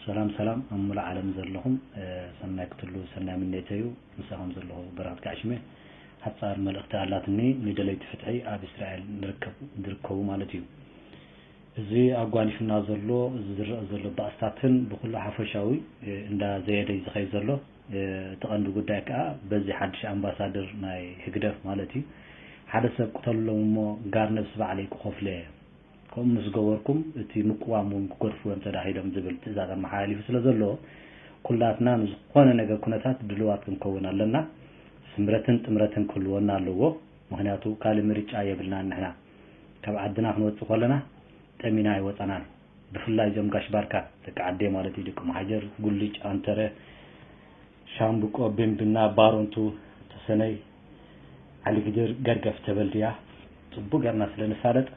ሰላም ሰላም ኣብ ሙሉእ ዓለም ዘለኹም ሰናይ ክትሉ ሰናይ ምኔተዩ ምሳኹም ዘለኹ በረኸት ጋዕሽመ ሓጻር መልእኽቲ ኣላትኒ ንደለይቲ ፍትሒ ኣብ እስራኤል ንርከብ ዝርከቡ ማለት እዩ እዚ ኣጓኒፍና ዘሎ እዚ ዝረአ ዘሎ ባእስታትን ብኩሉ ሓፈሻዊ እንዳ ዘየደይ ዝኸይ ዘሎ እቲ ቀንዲ ጉዳይ ከዓ በዚ ሓድሽ ኣምባሳደር ናይ ህግደፍ ማለት እዩ ሓደ ሰብ ቅተልሎም እሞ ጋር ነብሲ ባዕለይ ክኸፍሎ እየ ከምኡ ምስ ገበርኩም እቲ ምቅዋም እውን ክገድፍዎ እዮም ተዳሂሎም ዝብል ትእዛዝ ኣመሓላሊፉ ስለ ዘሎ ኩላትና ንዝኾነ ነገር ኩነታት ድልዋት ክንከውን ኣለና። ስምረትን ጥምረትን ክህልወና ኣለዎ ምኽንያቱ ካልእ ምርጫ የብልናን ንሕና። ካብ ዓድና ክንወጽእ ከለና ጠሚና ኣይወጻናን። ብፍላይ እዞም ጋሽ ባርካ ደቂ ዓደይ ማለት እዩ ደቂ መሓጀር፣ ጉልጅ፣ ኣንተረ፣ ሻምብቆ ቢምብና ባሮንቱ ተሰነይ ዓሊግድር ገርገፍ ተበልድያ ጽቡቅ ገርና ስለ ንፋለጥ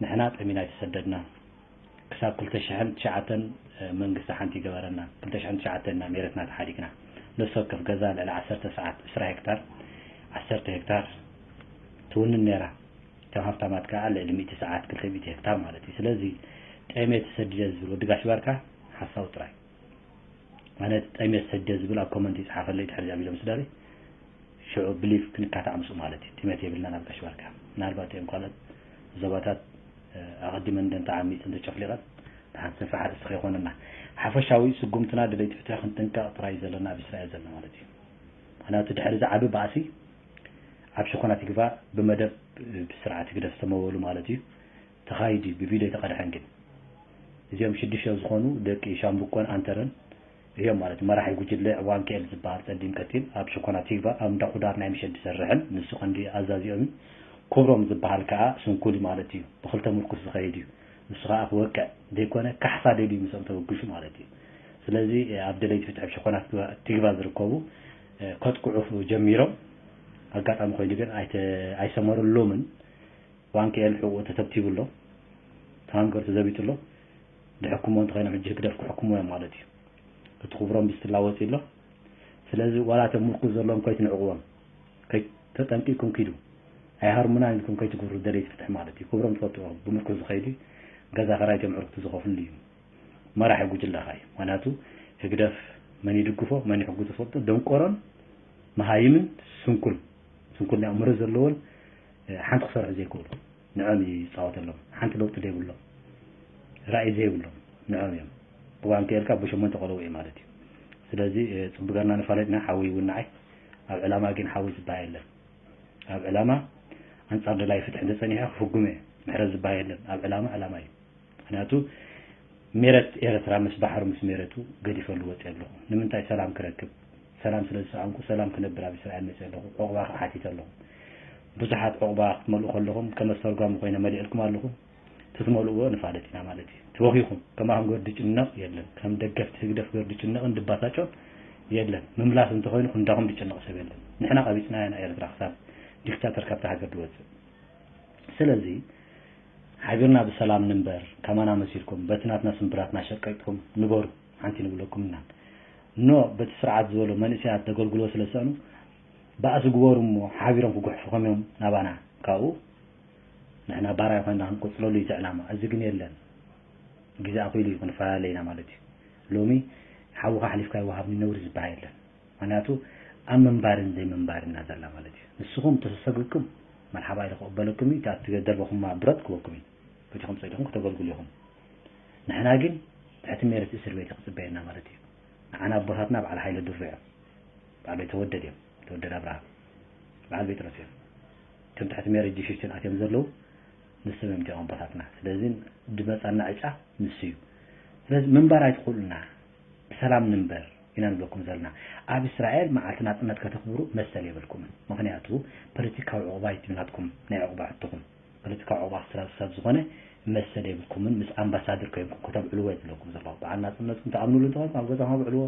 ንሕና ጠሚና ኣይተሰደድናን ክሳብ ክልተ ሽሕን ትሽዓተን መንግስቲ ሓንቲ ይገበረና ክልተ ሽሕን ትሽዓተን ኢና ሜረትና ተሓዲግና ነፍሲ ወከፍ ገዛ ልዕሊ ዓሰርተ ሰዓት ዕስራ ሄክታር ዓሰርተ ሄክታር ትውንን ነይራ እቶም ሃብታማት ከዓ ልዕሊ ሚእቲ ሰዓት ክልተ ሚእቲ ሄክታር ማለት እዩ ስለዚ ጠሜ ተሰዲደ ዝብል ወዲ ጋሽ ባርካ ሓሳዊ ጥራይ ኣነ ጠምየ ሰደ ዝብል ኣብ ኮመንት ይጽሓፈለይ ድሕሪ እዚኣ ቪድዮ ምስዳለይ ሽዑ ብሊቭ ክንካታዕ ምስኡ ማለት እዩ ጥሜት የብልናን ኣብ ጋሽ ባርካ ምናልባት እዮም ካልኦት ዞባታት ኣቐዲመን ደን ተዓሚጽን ተጨፍሊቐን ንሓንቲ ሰፊሕ ኣርእስቲ ከይኮነና ሓፈሻዊ ስጉምትና ደለይቲ ፍትሒ ክንጥንቀቕ ጥራይ ዘለና ኣብ እስራኤል ዘለና ማለት እዩ ምክንያቱ ድሕሪ እዚ ዓቢ ባእሲ ኣብ ሽኮና ትግቫ ብመደብ ብስርዓት ህግደፍ ዝተመወሉ ማለት እዩ ተኻይድ እዩ ብቪድዮ ኣይተቀድሐን ግን እዚኦም ሽዱሽተ ዝኾኑ ደቂ ሻምብቆን ኣንተረን እዮም ማለት መራሒ ጉጅለ ዋንክኤል ዝበሃል ጸሊም ቀቲል ኣብ ሸኮና ቲግባ ኣብ እንዳ ኩዳር ናይ ምሸት ዝሰርሕን ንሱ ቀንዲ ኣዛዚኦም እዩ ኩብሮም ዝበሃል ከኣ ስንኩል እዩ ማለት እዩ ብክልተ ምርኩስ ዝኸይድ እዩ ንሱ ከኣ ክወቅዕ ዘይኮነ ካሕሳ ደልዩ ምስኦም ተበግሹ ማለት እዩ ስለዚ ኣብ ደለይቲ ፍትሒ ኣብ ሸኮና ቲግባ ዝርከቡ ከጥቅዑ ጀሚሮም ኣጋጣሚ ኮይኑ ግን ኣይሰመረሎምን ዋንክኤል ሕቁኡ ተተብቲቡ ኣሎ ታንከር ተዘቢጡ ኣሎ ድሕኩሞ እንተኮይኖም ሕጂ ህግደፍ ክሕኩምዎ እዮም ማለት እዩ እቲ ክብሮም ብስትላ ወጺኡ ኣሎ ስለዚ ዋላ እቶም ምርኩስ ዘለዎም ከይትንዕቅዎም ተጠንቂቅኩም ኪዱ ኣይሃርሙናን ኢልኩም ከይትግብሩ ደለይቲ ፍትሒ ማለት እዩ ክብሮም ትፈልጥዎ ብምርኩስ ዝኸይድ እዩ ገዛ ከራይቶም ዕርክቱ ዝኸፍልሉ እዩ መራሒ ጉጅለኻ እዩ ምክንያቱ ህግደፍ መን ይድግፎ መን ይሕጉ ትፈልጡ ደንቆሮን መሃይምን ስንኩል ስንኩል ናይ ኣእምሮ ዘለዎን ሓንቲ ክሰርሑ ዘይክእሉ ንዕኦም እዩ ዝጻወተሎም ሓንቲ ለውጢ ዘይብሎም ራኢ ዘይብሎም ንዕኦም እዮም እዋን ክእልካ ብሸሞንተ ቆለቡ እዩ ማለት እዩ ስለዚ ጽቡቅ ገርና ንፋለጥና ሓዊ ይውናዓይ ኣብ ዕላማ ግን ሓዊ ዝበሃ የለን ኣብ ዕላማ ኣንጻር ደላይ ፍትሒ እንተጸኒሐ ክፍጉመ ምሕረት ዝበሃ የለን ኣብ ዕላማ ዕላማ እዩ ምክንያቱ ሜረት ኤረትራ ምስ ባሕሩ ምስ ሜረቱ ገዲፈሉ ወጼ ኣለኹ ንምንታይ ሰላም ክረክብ ሰላም ስለ ዝሰኣንኩ ሰላም ክነብር ኣብ እስራኤል መጼ ኣለኹ ዑቅባ ከኣ ሓቲተ ኣለኹ ቡዙሓት ዑቅባ ክትመልኡ ከለኹም ከም ኣስተርጓሚ ኮይነ መልኤልኩም ኣለኹ ትትመልእዎ ንፋለጥ ኢና ማለት እዩ ትወኺኹም ከማኹም ገርዲ ጭነቅ የለን ከም ደገፍቲ ህግደፍ ገርዲ ጭነቅን ድባሳጮን የለን ምምላስ እንተኾይኑ ክንዳኹም ድጭነቅ ሰብ የለን ንሕና ቀቢጽናያ ንኤረትራ ክሳብ ዲክታተር ካብታ ሃገር ድወጽእ ስለዚ ሓቢርና ብሰላም ንንበር ከማና መሲልኩም በቲ ናትና ስምብራት ናሸቀጥኩም ንበሩ ሓንቲ ንብለኩም እና ን በቲ ስርዓት ዝበሎ መንእሰያት ደገልግልዎ ስለ ዝሰእኑ ባእሲ ግበሩ እሞ ሓቢሮም ክጉሕፍኹም እዮም ናባና ካብኡ ንሕና ባራዩ ኮይና ክንቆጽለሉ እዩ እቲ ዕላማ እዚ ግን የለን ግዜ ኣኺሉ እዩ ክንፈላለ ኢና ማለት እዩ ሎሚ ሓውኻ ኣሕሊፍካ ይወሃብኒ ነውሪ ዝበሃ የለን ምክንያቱ ኣብ ምንባርን ዘይምንባርን ኢና ዘላ ማለት እዩ ንስኹም ተሰሰግግኩም መርሓባ ኢሉ ክቕበለኩም እዩ፣ እታ እትደርበኹማ ብረት ክበኩም እዩ፣ በጃኹም ጸዲቕኩም ክተገልግሉ ኢኹም። ንሕና ግን ትሕቲ ሜረት እስር ቤት እዩ ክጽበየና ማለት እዩ። ንዓና ኣቦታትና በዓል ሃይለ ድሩ እዮም፣ በዓል ቤተወደድ እዮም፣ ተወደድ ኣብርሃ፣ በዓል ጴጥሮስ እዮም። እቶም ትሕቲ ሜረት ጂሽሽትን ኣትዮም ዘለዉ ንሶም እዮም እቲኦም ኣቦታትና። ስለዚ ድመጻና ዕጫ ንሱ እዩ። ስለዚ ምንባር ኣይትኽእሉና። ብሰላም ንንበር ኢና ንብለኩም ዘልና። ኣብ እስራኤል መዓልቲ ናጽነት ከተኽብሩ መሰል የብልኩምን። ምኽንያቱ ፖለቲካዊ ዑቕባይት እዩ ናትኩም ናይ ዑቕባ ሕቶኹም። ፖለቲካዊ ዑቕባ ክትረኽቡ ሰብ ዝኾነ መሰል የብልኩምን። ምስ ኣምባሳድር ኮይንኩም ከተብዕልዎ እዩ ዝብለኩም ዘለኹ። በዓል ናጽነትኩም ትኣምንሉ እንተኾይንኩም ኣብ ገዛኹም ኣብዕልዎ።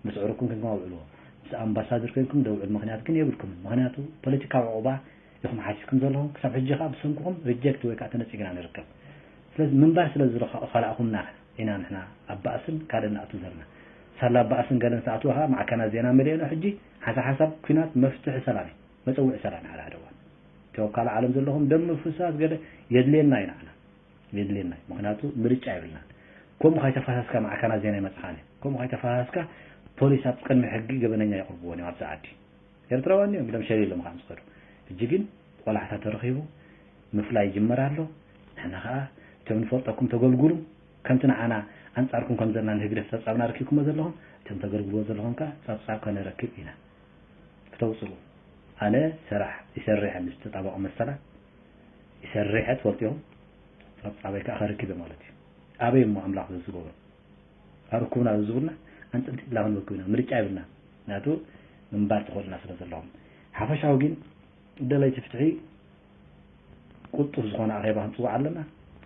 ምስ ኣዕሩኽኩም ኮይንኩም ኣብዕልዎ። ምስ ኣምባሳድር ኮይንኩም ደብዕሉ ምኽንያት ግን የብልኩምን። ምኽንያቱ ፖለቲካዊ ዑቕባ ኢኹም ሓቲትኩም ዘለኹም። ክሳብ ሕጂ ከኣ ብሰንኩኹም ሪጀክት ወይ ከኣ ተነጺግና ንርከብ። ስለዚ ምንባር ስለ ዝኸላእኹምና። ኢና ንሕና ኣብ ባእስን ካልእን ንኣቱ ዘለና ሳላ ኣብ ባእስን ገለን ዝተኣትወ ከኣ ማዕከናት ዜና መሊኦና ሕጂ ሓንሳ ሓንሳብ ኩናት መፍትሒ ሰላም እዩ መጸውዒ ሰላም እዩ ዓላ ደዋን እቲ ኣብ ካልእ ዓለም ዘለኹም ደም ምፍሳስ ገለ የድልየና እዩ ንዓና የድልየና እዩ ምኽንያቱ ምርጫ የብልናን ከምኡ ካይተፋሳስካ ማዕከናት ዜና ይመጽኻን ከምኡ ካይተፋሳስካ ፖሊስ ኣብ ቅድሚ ሕጊ ገበነኛ የቕርብዎን እዮም ኣብዛ ዓዲ ኤርትራውያን እዮም ኢሎም ሸሊሎም ከኣ ምስ ከዱ ሕጂ ግን ቆላሕታ ተረኺቡ ምፍላይ ይጅመር ኣሎ ንሕና ከኣ እቶም ንፈልጠኩም ተገልጉሉ ከምቲ ንዓና ኣንጻርኩም ከም ዘለና ንህግደፍ ጸብጻብና ኣርኪብኩሞ ዘለኹም እቶም ተገልግልዎ ዘለኹም ከኣ ጸብጻብ ከነረክብ ኢና ክተውጽኡ ኣነ ሰራሕ ይሰሪሐ ምስ ተጣባቂ መሰላት ይሰሪሐ ትፈልጥዮም ጸብጻበይ ከኣ ከርክብ እየ ማለት እዩ ኣበይ እሞ ኣምላኽ ዘዝገብሮ ኣርኩብና ዘዝብሉና ኣንጽንቲ ብላ ክንበክብ ኢና ምርጫ ይብልና ናቱ ምንባር ተኸእሉና ስለ ዘለኹም ሓፈሻዊ ግን ደለይቲ ፍትሒ ቁልጡፍ ዝኾነ ኣኼባ ክንጽውዕ ኣለና፣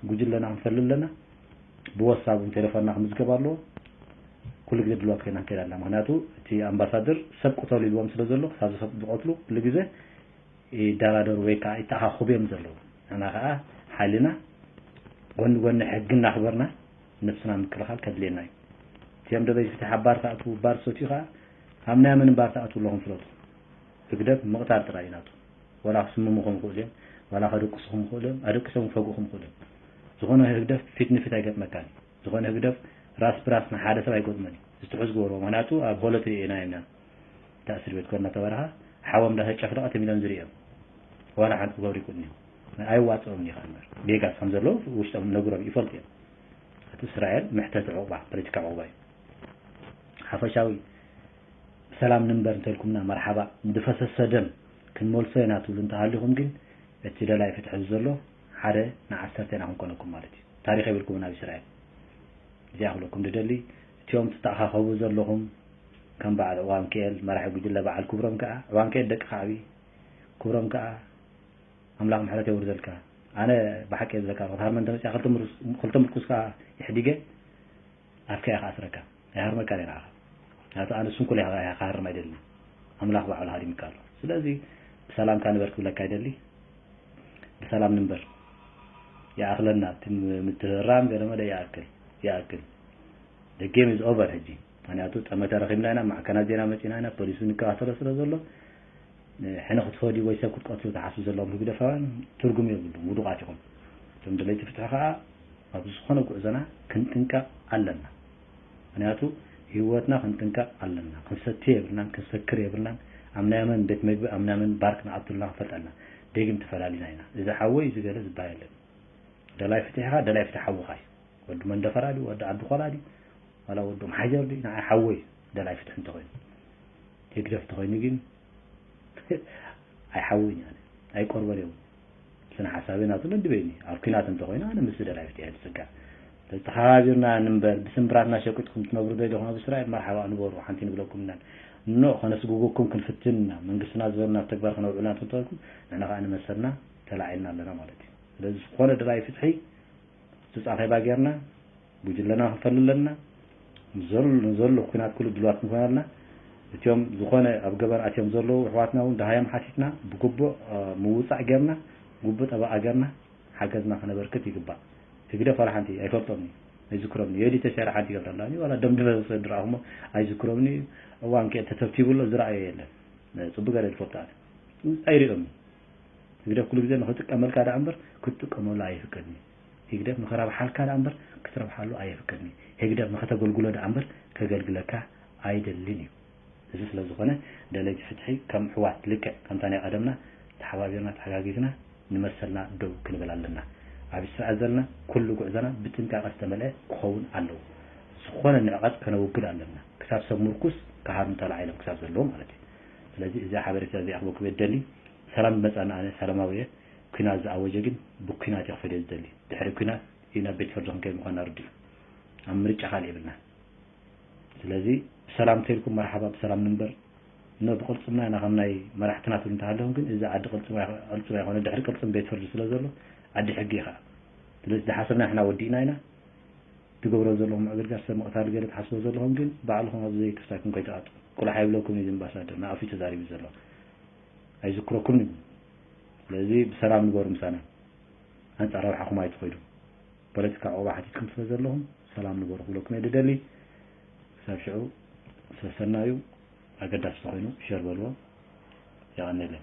ጉጅለና ክንፈሊ ኣለና፣ ብወትስ ኣፕ ቴለፎንና ክምዝገብ ኣለዎ፣ ኩሉ ግዜ ድልዋት ኮይና ክንከይድ ኣለና፣ ምክንያቱ እቲ ኣምባሳደር ሰብ ቅተሉ ኢልዎም ስለ ዘሎ ክሳብ ሰብ ዝቀትሉ ኩሉ ግዜ ይደራደሩ ወይ ከዓ ይተኣኻኸቡ እዮም ዘለዉ፣ ንሕና ከዓ ሓይልና ጎኒ ጎኒ ሕጊ እናኽበርና ነብስና ምክልኻል ከድልየና እዩ። እቲኦም ደለይቲ ፍትሒ ኣብ ባር ትኣትዉ ባር ትሰትዩ ከዓ ኣብ ናይ መን ባር ትኣትዉ ኣለኹም ፍለጡ። ህግደፍ ምቕታል ጥራይ እዩ ናቱ ዋላ ክስምሙ ክኾኑ ይኽእሉ እዮም ዋላ ከደቅሱ ክም ይኽእሉ እዮም ኣደቂሶም ክፈግኡ ክም ይኽእሉ እዮም ዝኾነ ህግደፍ ፊት ንፊት ኣይገጥመካን እዩ ዝኾነ ህግደፍ ራስ ብራስ ንሓደ ሰብ ኣይገጥሞን እዩ ዝትሑዝ ግበርዎ ምክንያቱ ኣብ ሆሎት ርኤናዮም ኢና እንዳ እስር ቤት ኮርና ተበረኻ ሓዎም እንዳ ተጨፍለቐ ተሚሎም ዝርእዮም ዋላ ሓንቲ ክገብሩ ይክእሉን እዮም ኣይዋፅኦም እዩ ከንበር ጌጋስ ከም ዘለዉ ውሽጦም ነግሮም ይፈልጡ እዮም እቲ እስራኤል መሕተቲ ዕቑባ ፖለቲካ ዕቑባ እዩ ሓፈሻዊ ብሰላም ንንበር እንተልኩምና መርሓባ፣ ንድፈሰሰ ደም ክንመልሶ ኢና ትብሉ እንተሃሊኹም ግን እቲ ደላይ ፍትሒ እዚ ዘሎ ሓደ ንዓሰርተ ኢና ክንኮነኩም ማለት እዩ። ታሪኽ የብልኩምን ኣብ እስራኤል። እዚኣ ክብለኩም ድደሊ እቲኦም ትተኣኻኸቡ ዘለኹም ከም በዓል ዑባምኪኤል መራሒ ጉጅለ በዓል ክብሮም ከኣ ዑባምኪኤል ደቂ ከዕቢ ክብሮም ከኣ ኣምላኽ ምሕረት የውርደልካ። ኣነ ብሓቂ እየ ዝብለካ ካብ ሃርመን ተመጺኣ ክልተ ምርኩስ ከኣ ኢሕዲገ ኣፍካ እየ ክኣስረካ ኣይሃርመካን እየ ንዓኻ ምክንያቱ ኣነ ስንኩል እየ ካባካ ክሃርም ኣይደልን ኣምላኽ ባዕሉ ሃሪምካ ኣሎ ስለዚ ብሰላምካ ንበር ክብለካ ይደሊ ብሰላም ንንበር ይኣኽለና እቲ ምትህራም ገለ መለ ይኣክል ይኣክል the game is over ሕጂ ምክንያቱ ጠመተ ረኺብና ኢና ማዕከናት ዜና መፂና ኢና ፖሊስ ንከታተሎ ስለ ዘሎ ሕነ ክትፈድዩ ወይ ሰብ ክትቀትሉ ትሓስቡ ዘለኹም ህግደፋውያን ትርጉም የብሉን ውዱቓት ኢኹም። እቶም ደለይቲ ፍትሒ ከኣ ኣብ ዝኾነ ጉዕዞና ክንጥንቀቕ ኣለና። ምኽንያቱ ሂወትና ክንጥንቀቕ ኣለና። ክንሰቲ የብልናን ክንሰክር የብልናን ኣብ ናይ መን ቤት መግቢ ኣብ ናይ መን ባር ክንኣቱ ኣለና ክንፈልጥ ኣለና። ደጊም ተፈላሊና ኢና። እዚ ሓወይ እዚ ገለ ዝብሃል የለን። ደላይ ፍትሒ ከኣ ደላይ ፍትሒ ሓውኻ እዩ። ወዲ መንደፈራ ድዩ ወዲ ዓዲ ኾላ ድዩ ዋላ ወዲ ኦምሓጀር ድዩ ንዓይ ሓወይ እዩ ደላይ ፍትሒ እንተኾይኑ። ህግደፍ ተኮይኑ ግን ኣይሓውን እዩ ኣነ ኣይቆርበን እየ ስነ ሓሳበይ ናቱ ነድበይኒ እዩ ኣብ ኩናት እንተኮይኑ ኣነ ምስ ደላይፍት እየ ዝፅጋዕ ስለዚ ተከባቢርና ንንበር ብስምብራትና ሸቂጥኩም ትነብሩ ደሊኹም ኣብ እስራኤል መርሓባ ንበሩ ሓንቲ ንብለኩም ኢና እኖ ከነስግጎኩም ክንፍትን ኢና መንግስትና ዝበልና ኣብ ተግባር ክነውዕሉ ናቱ እንተኮይንኩም ንሕና ከዓ ንመሰልና ተላዒልና ኣለና ማለት እዩ ስለዚ ዝኾነ ደላይ ፍትሒ ሱፅ ኣኼባ ጌርና ጉጅለና ክንፈሊ ኣለና፣ ንዘሉ ኩናት ኩሉ ድልዋት ክንኮን ኣለና፣ እትም ዝኾነ ኣብ ገበን ኣትዮም ዘለዉ የሕዋትና ውን ደሃዮም ሓቲትና ብግቡእ ምውጻእ ጌርና ግቡእ ጠበቓ ጌርና ሓገዝና ከነበርክት ይግባእ። ህግደፍ ዋላ ሓንቲ ኣይፈልጦምን እዩ ኣይዝክሮምን እዩ ዮዲ ተሻይራ ሓንቲ ይገብረላን እዩ ዋላ ደም ድፈሰሰ ድረኣኹሞ ኣይዝክሮምን እዩ እዋን ከ ተተብቲቡ ኣሎ ዝረኣዮ የለን ጽቡቅ ገረ ዝፈልጦ ኣነ ኣይሪኦምን ህግደፍ ኩሉ ግዜ ንክጥቀመልካ ደኣ እምበር ክትጥቀመሉ ኣይፍቀድን እዩ ህግደፍ ንኸራብሓልካ ደኣ እምበር ክትረብሓሉ ኣየፍቅድን እዩ። ህግደፍ ንኸተገልግሎ ደኣ እምበር ከገልግለካ ኣይደልን እዩ። እዚ ስለ ዝኾነ ደለይቲ ፍትሒ ከም ኣሕዋት ልክዕ ከምታ ናይ ቐደምና ተሓባቢርና ተሓጋጊዝና ንመሰልና ደው ክንብል ኣለና። ኣብ ስርዐት ዘለና ኩሉ ጉዕዞና ብጥንቃቐ ዝተመልኤ ክኸውን ኣለዎ። ዝኾነ ንዕቐት ከነውግድ ኣለና ክሳብ ሰብ ምርኩስ ክሃርሙ ተላዒሎም ክሳብ ዘለዉ ማለት እዩ። ስለዚ እዚኣ ሓበሬታ እዚኣ ክበኩም እየ ዝደሊ። ሰላም ዝመጽኣኒ ኣነ ሰላማዊ እየ ኩናት ዝኣወጀ ግን ብኩናት እየ ክፈልዮ ዝደሊ ድሕሪ ኩናት እዩ ናብ ቤት ፍርዲ ክንከይድ ምኳና ርዱእ እዩ ኣብ ምርጫ ካልእ የብልናን ስለዚ ብሰላም እንተኢልኩም መርሓባ ብሰላም ንንበር እነ ብቅልፅምና ኢና ከም ናይ መራሕትና ትብሉ እንተሃለኹም ግን እዚ ዓዲ ቅልፅም ቅልፅም ኣይኮነ ድሕሪ ቅልፅም ቤት ፍርዲ ስለ ዘሎ ዓዲ ሕጊ እዩ ከዓ ስለዚ ዝሓሰብና ንሕና ወዲእና ኢና ትገብሮ ዘለኹም ምዕግርጋር ሰብ ምቕታል ገለ ትሓስቦ ዘለኹም ግን ባዕልኹም ኣብ ዘይክርሳይኩም ከይትኣጡ ቁልሓ ይብለኩም እዩ ዝምባሳደር ንኣፍዩ ተዛሪቡ ዘሎ ኣይዝክረኩምን እዩ ስለዚ ብሰላም ንበሩ ምሳና ኣንጻር ረብሓኹም ኣይትኸዱ ፖለቲካ ዑቕባ ሓቲትኩም ስለ ዘለኹም ሰላም ንበሩ ክብለኩም እየ ድደሊ ክሳብ ሽዑ ሰሰና እዩ ኣገዳሲ ተኾይኑ ሸር በልዎ የቐኒለይ